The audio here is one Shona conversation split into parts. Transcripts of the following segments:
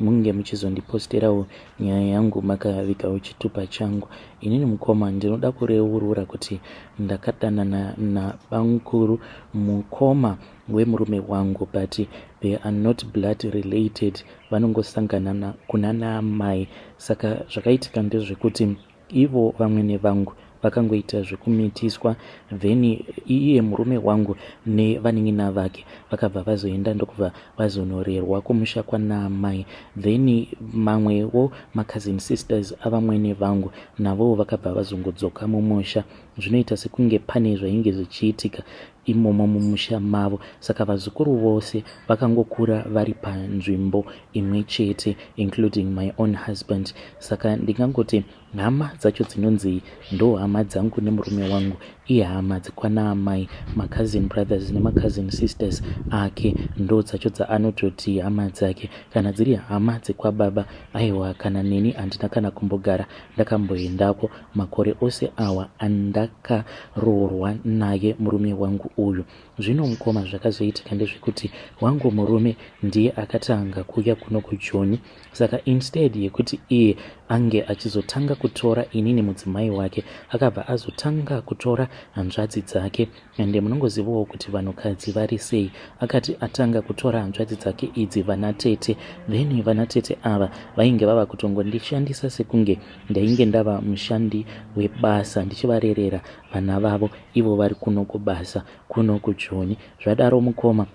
munge muchizondiposterawo nyaya yangu makavikawo chitupa changu inini mukoma ndinoda kureurura kuti ndakadanana nabamukuru mukoma wemurume wangu but they are not blood related vanongosangana kuna naamai saka zvakaitika ndezvekuti Ivo vamwene vangu vakangoita zvekumitiswa then iye murume wangu nevanin'ina vake vakabva vazoenda ndokubva vazonorerwa kumusha kwanaamai then mamwewo macousin sisters avamwene vangu navowo vakabva vazongodzoka mumusha zvinoita sekunge pane zvainge zvichiitika imomo mumusha mavo saka vazukuru vose vakangokura vari panzvimbo imwe chete including my own husband saka ndingangoti hama dzacho dzinonzii ndo hama dzangu nemurume wangu ihama dzikwana amai macousin brothers nemacousin sisters ake ndo dzacho dzaanototi hama dzake kana dziri hama dzekwababa aiwa kana neni handina kana kumbogara ndakamboendako makore ose awa andakaroorwa naye murume wangu uyu zvino mukoma zvakazoitika ndezvekuti wangu murume ndiye akatanga kuuya kuno kujoni saka instead yekuti iye ange achizotanga kutora inini mudzimai wake akabva azotanga kutora hanzvadzi dzake ende munongozivawo kuti vanhukadzi vari sei akati atanga kutora hanzvadzi dzake idzi vana tete then vana tete ava vainge vava kutongondishandisa sekunge ndainge ndava mushandi webasa ndichivarerera vana vavo ivo vari kuno kubasa kuno kujoni zvadaro mukoma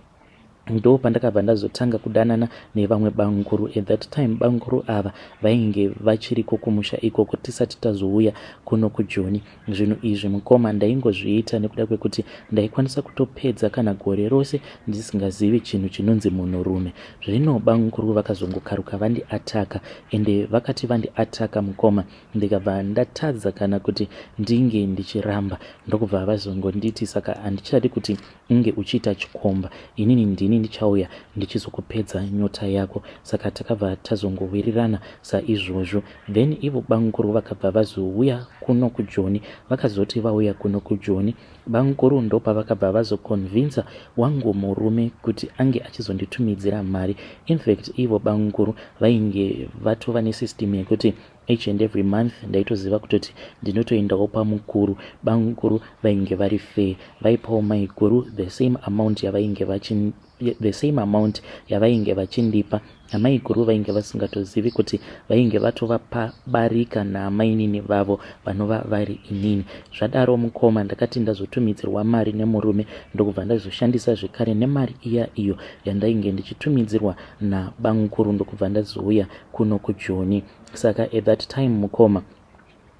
ndo pandakabva ndazotanga kudanana nevamwe bamukuru at that time bamukuru ava vainge vachiriko kumusha ikoko tisati tazouya kuno kujoni zvinhu izvi mukoma ndaingozviita nekuda kwekuti ndaikwanisa kutopedza kana gore rose ndisingazivi chinhu chinonzi munhurume zvino bamukuru vakazongokaruka vandiataka ende vakati vandiataka mukoma ndikabva ndatadza kana kuti ndinge ndichiramba ndokubva vazongonditi saka handichadi kuti unge uchiita chikomba inini ndini ndichauya ndichizokupedza nyota yako saka takabva tazongowirirana saizvozvo then ivo bamukuru vakabva vazouya kuno kujoni vakazoti vauya kuno kujoni bamukuru ndopavakabva vazokonvinza wangu murume kuti ange achizonditumidzira mari infact ivo bamukuru vainge vatova nesystem yekuti each and every month ndaitoziva kutoti ndinotoendawo pamukuru bamukuru vainge vari fair vaipawo maiguru the same amount yavainge vachi the same amount yavainge vachindipa amaiguru vainge vasingatozivi kuti vainge vatovapa barika naamainini vavo vanova vari inini zvadaro mukoma ndakati ndazotumidzirwa mari nemurume ndokubva ndazoshandisa zvekare nemari iya iyo yandainge ndichitumidzirwa nabamukuru ndokubva ndazouya kuno kujoni saka at that time mukoma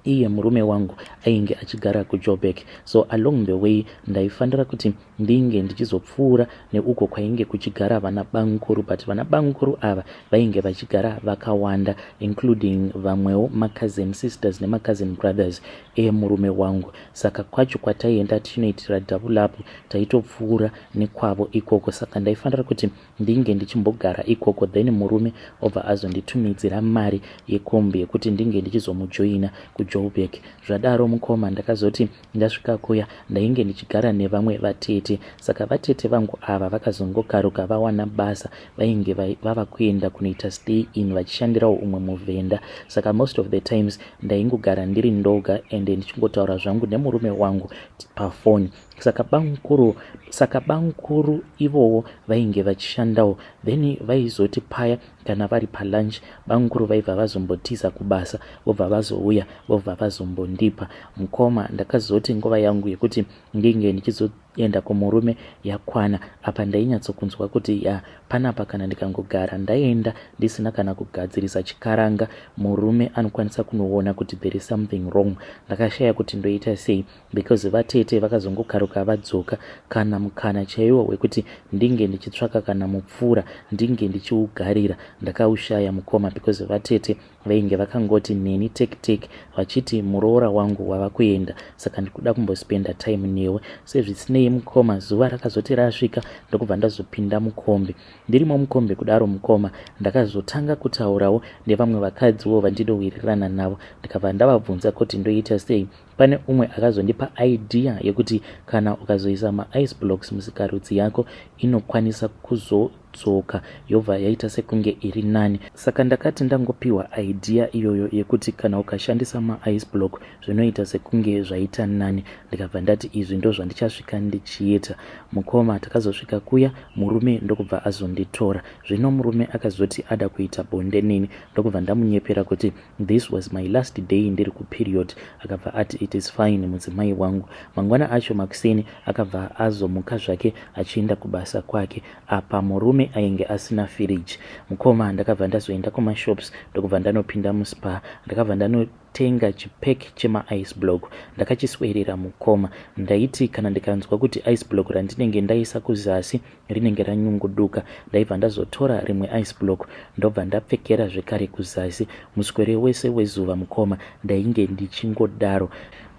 iye murume wangu ainge achigara kujobek so along the way ndaifanira kuti ndinge ndichizopfuura neuko kwainge kuchigara vana bamukuru but vana bamukuru ava vainge vachigara vakawanda including vamwewo macousin sisters nemacousin brothers emurume wangu saka kwacho kwataienda tichinoitira dhabulapu taitopfuura nekwavo ikoko saka ndaifanira kuti ndinge ndichimbogara ikoko then murume obva azonditumidzira mari yekombi yekuti ndinge ndichizomujoina kujoburg zvadaro mukoma ndakazoti ndasvika kuya ndainge ndichigara nevamwe vatete saka vatete vangu ava vakazongokaruka vawana basa vainge vava kuenda kunoita stay in vachishandirawo umwe muvhenda saka most of the times ndaingogara ndiri ndoga ende ndichingotaura zvangu nemurume wangu pafoni saka bamukuru saka bamukuru ivowo vainge vachishandawo then vaizoti paya kana vari palunch bamukuru vaibva vazombotiza kubasa vobva vazouya vobva vazombondipa mukoma ndakazoti nguva yangu yekuti ndinge ndichizoenda kumurume yakwana apa ndainyatsokunzwa kuti ya panapa kana ndikangogara ndaenda ndisina kana kugadzirisa chikaranga murume anokwanisa kunoona kuti there is something wrong ndakashaya kuti ndoita sei because vatete vakazongokaruka vadzoka kana mukana chaiwo wekuti ndinge ndichitsvaka kana mupfuura ndinge ndichiugarira ndakaushaya mukoma because vatete vainge vakangoti neni take take vachiti muroora wangu wava kuenda saka ndikuda kumbospenda time newe sezvisinei mukoma zuva rakazoti rasvika ndokubva ndazopinda mukombi ndirimo mukombi kudaro mukoma ndakazotanga kutaurawo nevamwe vakadziwo vandinowirirana navo ndikabva ndavabvunza kuti ndoita sei pane umwe akazondipa idea yekuti kana ukazoisa maice blocks musikarudzi yako inokwanisa kuzodzoka yobva yaita sekunge iri nani saka ndakati ndangopiwa idea iyoyo yekuti kana ukashandisa maice block zvinoita sekunge zvaita nani ndikabva ndati izvi ndo zvandichasvika ndichiita mukoma takazosvika kuya murume ndokubva azonditora zvino murume akazoti ada kuita bonde neni ndokubva ndamunyepera kuti This was my last day ndiri kuperiod akabva ati it is fine mudzimai wangu. Mangwana acho makuseni akabva azomuka zvake achienda kubasa kwake apa murume ainge asina firiji. Mukoma ndakabva ndazoenda kumashops ndokubva ndanopinda muspa ndakabva ndano tenga chipek chemaice block ndakachiswerera mukoma ndaiti kana ndikanzwa kuti ice block randinenge ndaisa kuzasi rinenge ranyunguduka ndaibva ndazotora rimwe ice block ndobva ndapfekera zvekare kuzasi muswere wese wezuva mukoma ndainge ndichingodaro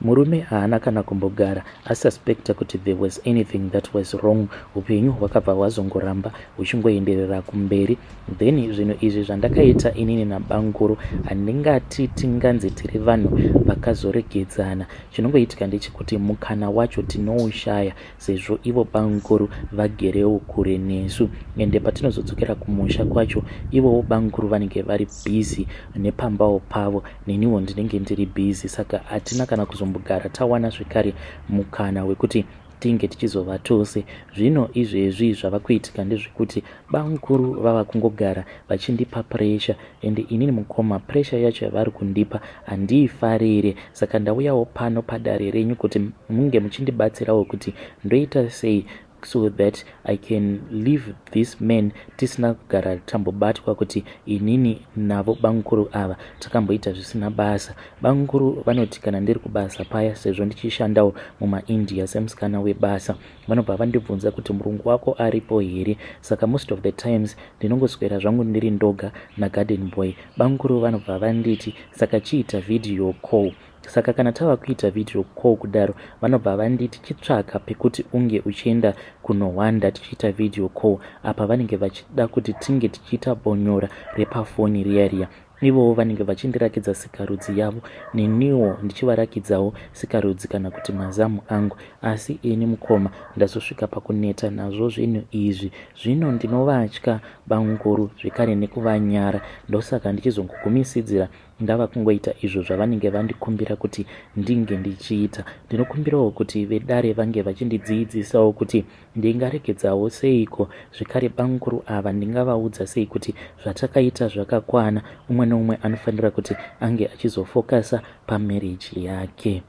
murume haana kana kumbogara asuspecta kuti there was anything that was wrong upenyu hwakabva hwazongoramba huchingoenderera kumberi then zvinhu izvi zvandakaita inini nabanguru handingati tinganzi tiri vanhu vakazoregedzana chinongoitika ndechekuti mukana wacho tinoushaya sezvo ivo bamukuru vagerewo kure nesu ende patinozodzokera kumusha kwacho ivowo bamukuru vanenge vari busy nepambawo pavo neniwo ndinenge ndiri busy saka hatina kana kuzombogara tawana zvekare mukana wekuti tinge tichizova tose zvino izvezvi zvava kuitika ndezvekuti Bamkuru vava kungogara vachindipa pressure and inini mukoma pressure yacho yavari kundipa handiifarire saka ndauyawo pano padare renyu kuti munge muchindibatsirawo kuti ndoita sei so that i can leave this man tisina kugara tambobatwa kuti inini navo bamkuru ava takamboita zvisina basa bamkuru vanoti kana ndiri kubasa paya sezvo ndichishandawo mumaindia semusikana webasa vanobva vandibvunza kuti murungu wako aripo here saka most of the times ndinongoswera zvangu ndiri ndoga nagarden boy banguru vanobva vanditi saka chiita video call saka kana tava kuita video call kudaro vanobva vanditi chitsvaka pekuti unge uchienda kunohwanda tichiita video call apa vanenge vachida kuti tinge tichiita bonyora repafoni riya riya ivowo vanenge vachindirakidza sikarudzi yavo neniwo ndichivarakidzawo sikarudzi kana kuti mazamu angu asi ini mukoma ndazosvika pakuneta nazvo zvinhu izvi zvino ndinovatya bamukuru zvekare nekuvanyara ndosaka ndichizongogumisidzira ndava kungoita izvo zvavanenge vandikumbira kuti ndinge ndichiita ndinokumbirawo kuti vedare vange vachindidziidzisawo kuti Ndingaregedzawo seiko zvekare bamukuru ava? Ndingavaudza sei kuti zvatakaita zvakakwana? Umwe neumwe anofanira kuti ange achizofokasa pamarriage yake.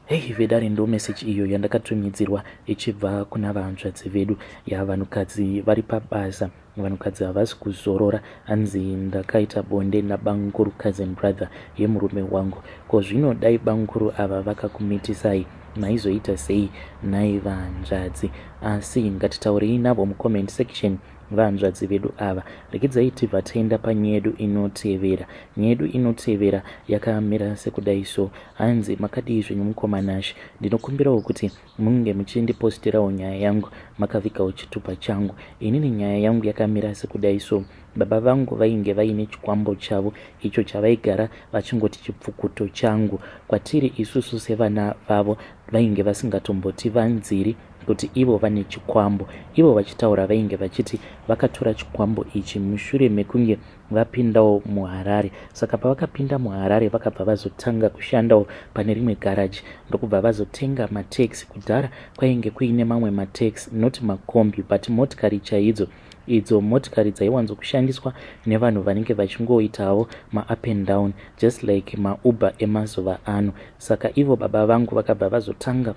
Hei vedare ndo message iyo yandakatumidzirwa ichibva kuna vahanzvadzi vedu ya vanhukadzi vari pabasa. Vanhukadzi havasi kuzorora hanzi ndakaita bonde nabamukuru cousin brother yemurume wangu ko zvino dai bamukuru ava vakakumitisai maizoita sei nhai vahanzvadzi asi ngatitaurei navo mucomment section vahanzvadzi vedu ava rekidzai tibva taenda panyedu inotevera nyedu inotevera yakamira sekudai so hanzi makadii zvenyu mukoma nash ndinokumbirawo kuti Munge muchindipostirawo nyaya yangu makavikawo chitupa changu. Inini nyaya yangu yakamira sekudai so. Baba vangu vainge vaine chikwambo chavo icho chavaigara vachingoti chipfukuto changu kwatiri isusu sevana vavo vainge vasingatomboti vanziri kuti ivo vane chikwambo. Ivo vachitaura vainge vachiti vakatora chikwambo ichi mushure mekunge vapindawo muHarare. Saka pavakapinda muHarare vakabva vazotanga kushandawo pane rimwe garage ndokubva vazotenga mataxi. Kudhara kwainge kuine mamwe mataxi not makombi but motikari chaidzo idzo motikari dzaiwanzo kushandiswa nevanhu vanenge vachingoitawo maup and down just like mauber emazuva ano. Saka ivo baba vangu vakabva vazotanga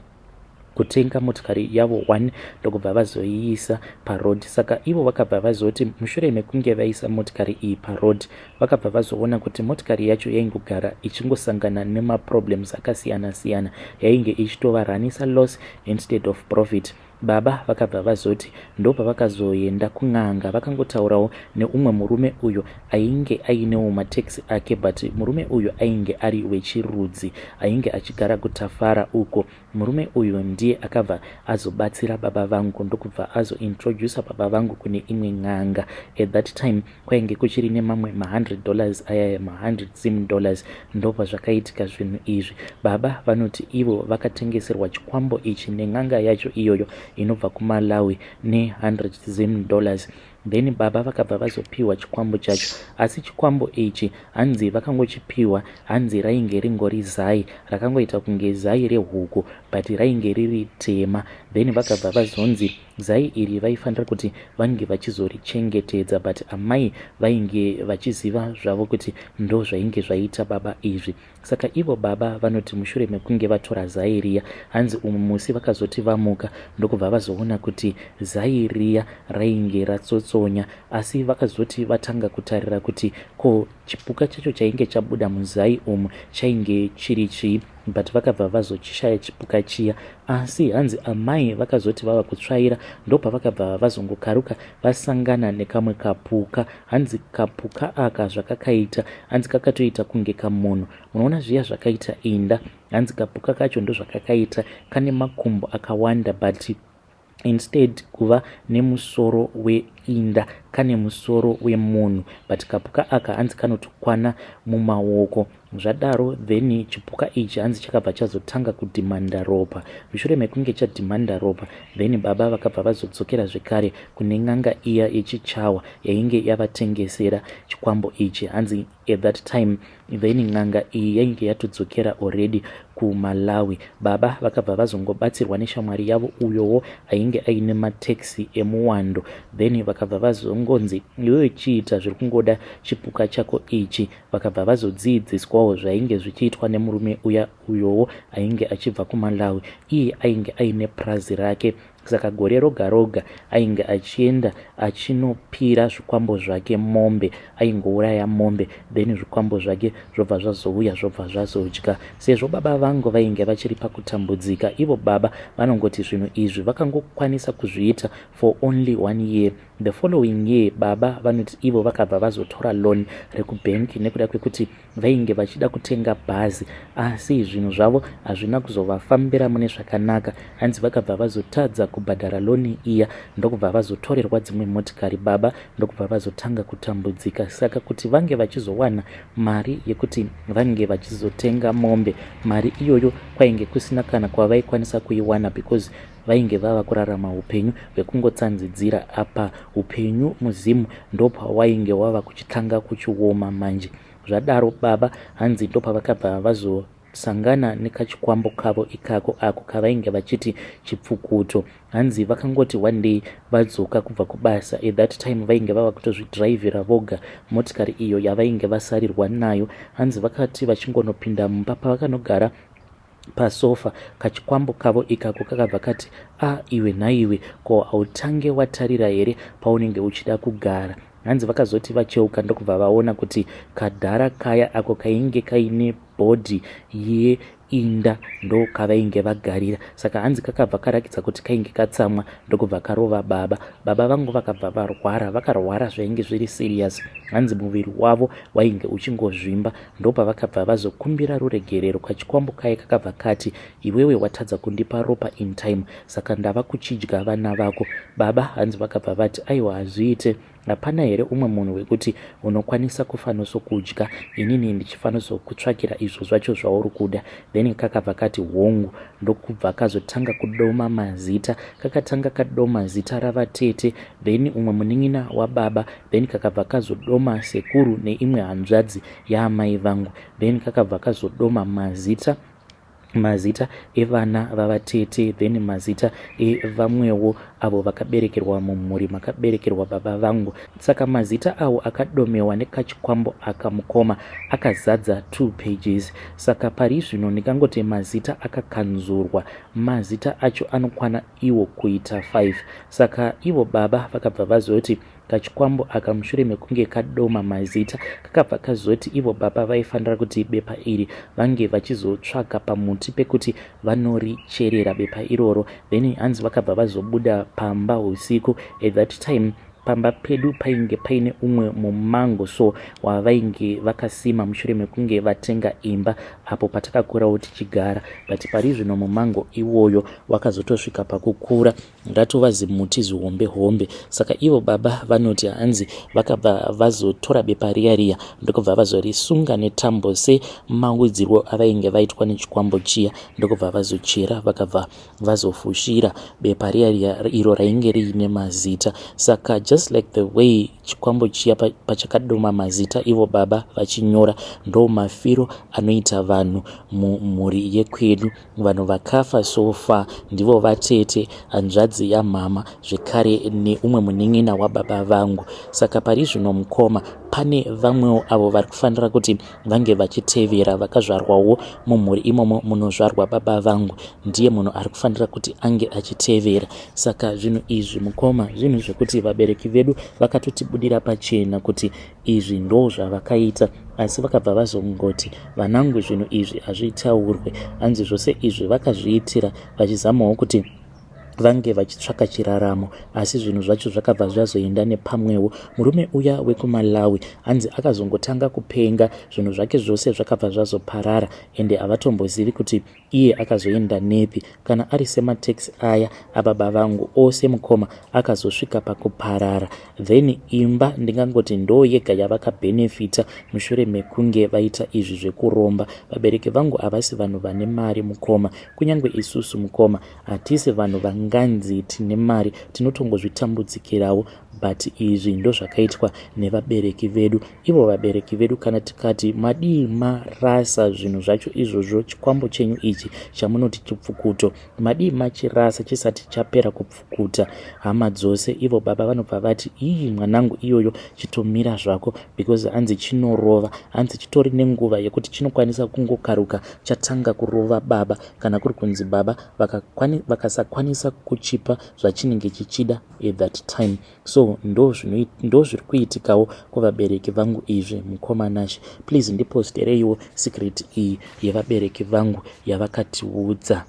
kutenga motikari yavo one ndokubva vazoiisa paroad saka ivo vakabva vazoti mushure mekunge vaisa motikari iyi paroad vakabva vazoona kuti motikari yacho yaingogara ichingosangana nemaproblems akasiyana siyana yainge ichitovaranisa loss instead of profit baba vakabva vazoti ndopavakazoenda kun'anga vakangotaurawo neumwe murume uyo ainge ainewo mataxi ake but murume uyu ainge ari wechirudzi ainge achigara kutafara uko murume uyu ndiye akabva azobatsira baba vangu ndokubva azointroduca baba vangu kune imwe n'anga at that time kwainge kuchiri nemamwe ma100 dollars ayaya ma100 sim dollars ndobva zvakaitika zvinhu izvi baba vanoti ivo vakatengeserwa chikwambo ichi nen'anga yacho iyoyo inobva kumalawi ne100 zim dollars Then baba vakabva vazopihwa chikwambo chacho asi chikwambo ichi hanzi vakangochipihwa hanzi rainge ringori zai rakangoita kunge zai rehuku but rainge riri tema then vakabva vazonzi zai iri vaifanira kuti vange vachizorichengetedza but amai vainge vachiziva zvavo kuti ndo zvainge zvaita baba izvi Saka ivo baba vanoti mushure mekunge vatora zai riya, hanzi umwe musi vakazoti vamuka ndokubva vazoona kuti zai riya rainge ratsotsonya, asi vakazoti vatanga kutarira kuti ko chipuka chacho chainge chabuda muzai umu chainge chiri chii but vakabva vazochishaya chipuka chiya asi hanzi amai vakazoti vava kutsvaira ndopavakabva vazongokaruka vasangana nekamwe kapuka Hanzi kapuka aka zvakakaita hanzi kakatoita kunge kamunhu unoona zviya zvakaita inda hanzi kapuka kacho ndozvakakaita kane makumbo akawanda but instead kuva nemusoro weinda kane musoro wemunhu but kapuka aka hanzi kanotokwana mumaoko Zvadaro then chipuka ichi hanzi chakabva chazotanga kudhimanda ropa. Mushure mekunge chadhimanda ropa then baba vakabva vazodzokera zvekare kune n'anga iya yechichawa yainge yavatengesera chikwambo ichi. Hanzi at that time then n'anga iyi yainge yatodzokera already kumalawi. Baba vakabva vazongobatsirwa neshamwari yavo uyowo ainge aine mataxi emuwando then vakabva vazongonzi iwewe chiita zviri kungoda chipuka chako ichi vakabva vazodziidziswawo zvainge zvichiitwa nemurume uya uyowo ainge achibva kumalawi iye ainge aine purazi rake saka gore roga roga ainge achienda achinopira zvikwambo zvake mombe aingouraya mombe then zvikwambo zvake zvobva zvazouya zvobva zvazodya sezvo baba vangu vainge vachiri pakutambudzika ivo baba vanongoti zvinhu izvi vakangokwanisa kuzviita for only one year The following year baba vanoti ivo vakabva vazotora loan rekubank nekuda kwekuti vainge vachida kutenga bhazi asi zvinhu zvavo hazvina kuzovafambira mune zvakanaka hanzi vakabva vazotadza kubhadhara loni iya ndokubva vazotorerwa dzimwe motikari baba ndokubva vazotanga kutambudzika saka kuti vange vachizowana mari yekuti vange vachizotenga mombe mari iyoyo kwainge kusina kana kwavaikwanisa kuiwana because vainge vava kurarama hupenyu hwekungotsanzidzira apa hupenyu muZim ndopwawainge wava kuchitanga kuchioma manje zvadaro baba hanzi ndopavakabva vazo sangana nekachikwambo kavo ikako ako kavainge vachiti chipfukuto hanzi vakangoti one day vadzoka kubva kubasa at that time vainge vava kutozvidhiraivhira voga motikari iyo yavainge vasarirwa nayo hanzi vakati vachingonopinda mumba pavakanogara pasofa kachikwambo kavo ikako kakabva kati a ah, iwe nhaiwe ko hautange watarira here paunenge uchida kugara hanzi vakazoti vacheuka ndokubva vaona kuti kadhara kaya ako kainge kaine bhodhi ye inda ndokavainge vagarira saka hanzi kakabva karakidza kuti kainge katsamwa ndokubva karova baba baba vangu vakabva varwara vakarwara zvainge zviri serious hanzi muviri wavo wainge uchingozvimba ndopavakabva vazokumbira ruregerero kachikwambo kaye kakabva kati iwewe watadza kundipa ropa in time saka ndava kuchidya vana vako baba hanzi vakabva vati aiwa hazviite hapana here umwe munhu wekuti unokwanisa kufanosokudya inini ndichifanosokutsvakira izvo zvacho zvauri kuda then kakabva kati hongu ndokubva kazotanga kudoma mazita kakatanga kadoma zita ravatete then umwe munin'ina wababa then kakabva kazodoma sekuru neimwe hanzvadzi yaamai vangu then kakabva kazodoma mazita mazita evana vavatete then mazita evamwewo avo vakaberekerwa mumhuri makaberekerwa baba vangu saka mazita awo akadomewa nekachikwambo aka mukoma akazadza two pages saka pari zvino ndikangoti mazita akakanzurwa mazita acho anokwana iwo kuita five saka ivo baba vakabva vazoti Kachikwambo aka mushure mekunge kadoma mazita kakabva kazoti ivo baba vaifanira kuti bepa iri vange vachizotsvaga pamuti pekuti vanoricherera bepa iroro then hanzi vakabva vazobuda pamba usiku at that time pamba pedu painge paine umwe mumango so wavainge vakasima mushure mekunge vatenga imba apo patakakurawo tichigara but pari zvino mumango iwoyo wakazotosvika pakukura ratova zimuti zihombe hombe saka ivo baba vanoti hanzi vakabva vazotora bepa riya riya ndokubva vazorisunga netambo semaudzirwo avainge vaitwa nechikwambo chiya ndokubva vazochera vakabva vazofushira bepa riya riya iro rainge riine mazita saka just like the way chikwambo chiya pachakadoma mazita ivo baba vachinyora ndo mafiro anoita vanhu mumhuri yekwedu Vanhu vakafa so far ndivo vatete, hanzvadzi yamhama zvekare neumwe munin'ina wababa vangu. Saka pari zvino mukoma pane vamwewo avo vari kufanira kuti vange vachitevera vakazvarwawo mumhuri imomo munozvarwa baba vangu. Ndiye munhu ari kufanira kuti ange achitevera. Saka zvinhu izvi mukoma zvinhu zvekuti vabereki vedu vakatotibudira pachena kuti Izvi ndozvavakaita asi vakabva vazongoti vanangu zvinhu izvi hazvitaurwe hanzi zvose izvi vakazviitira vachizamawo kuti vange vachitsvaka chiraramo asi zvinhu zvacho zvakabva zvazoenda nepamwewo murume uya wekumalawi hanzi akazongotanga kupenga zvinhu zvake zvose zvakabva zvazoparara ende havatombozivi kuti iye akazoenda nepi kana ari sematax aya ababa vangu ose mukoma akazosvika pakuparara then imba ndingangoti ndoo yega yavakabhenefita mushure mekunge vaita izvi zvekuromba vabereki vangu havasi vanhu vane mari mukoma kunyange isusu mukoma hatisi vanhu vanganzi tine mari tinotongozvitambudzi kirawo But izvi ndozvakaitwa nevabereki vedu ivo vabereki vedu kana tikati madii marasa zvinhu zvacho izvozvo chikwambo chenyu ichi chamunoti chipfukuto madii machirasa chisati chapera kupfukuta hama dzose ivo baba vanobva vati iyi mwanangu iyoyo chitomira zvako because hanzi chinorova hanzi chitori nenguva yekuti chinokwanisa kungokaruka chatanga kurova baba kana kuri kunzi baba vakasakwanisa kuchipa zvachinenge chichida at that time so ndozviri kuitikawo kuvabereki vangu izvi mukoma nashe please ndipostereiwo secret iyi yevabereki vangu yavakatiudza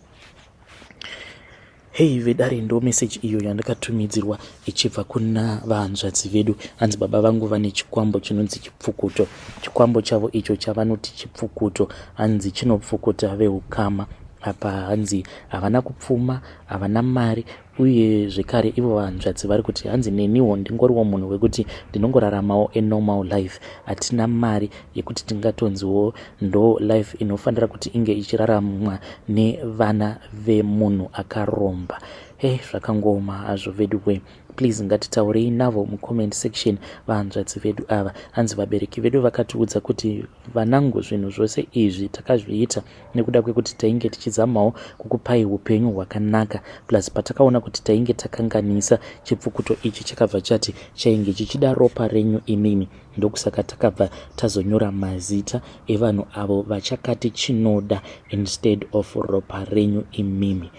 hei vedare ndo meseji iyo yandakatumidzirwa ichibva kuna vahanzvadzi vedu hanzi baba vangu vane chikwambo chinonzi chipfukuto chikwambo chavo icho chavanoti chipfukuto hanzi chinopfukuta veukama apa hanzi havana kupfuma havana mari uye zvekare ivo vahanzvadzi vari kuti hanzi neniwo ndingoriwo munhu wekuti ndinongoraramawo anormal life hatina mari yekuti tingatonziwo ndo life inofanira kuti inge ichiraramwa nevana vemunhu akaromba he eh, zvakangooma hazvo vedu wee please ngatitaurei navo mucomment section vahanzvadzi vedu ava hanzi vabereki vedu vakatiudza kuti vanangu zvinhu zvose izvi takazviita nekuda kwekuti tainge tichizamawo kukupai upenyu hwakanaka plus patakaona kuti tainge takanganisa chipfukuto ichi chakabva chati chainge chichida ropa renyu imimi ndokusaka takabva tazonyora mazita evanhu avo vachakati chinoda instead of ropa renyu imimi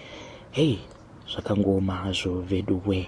hei zvakangooma hazvo veduwee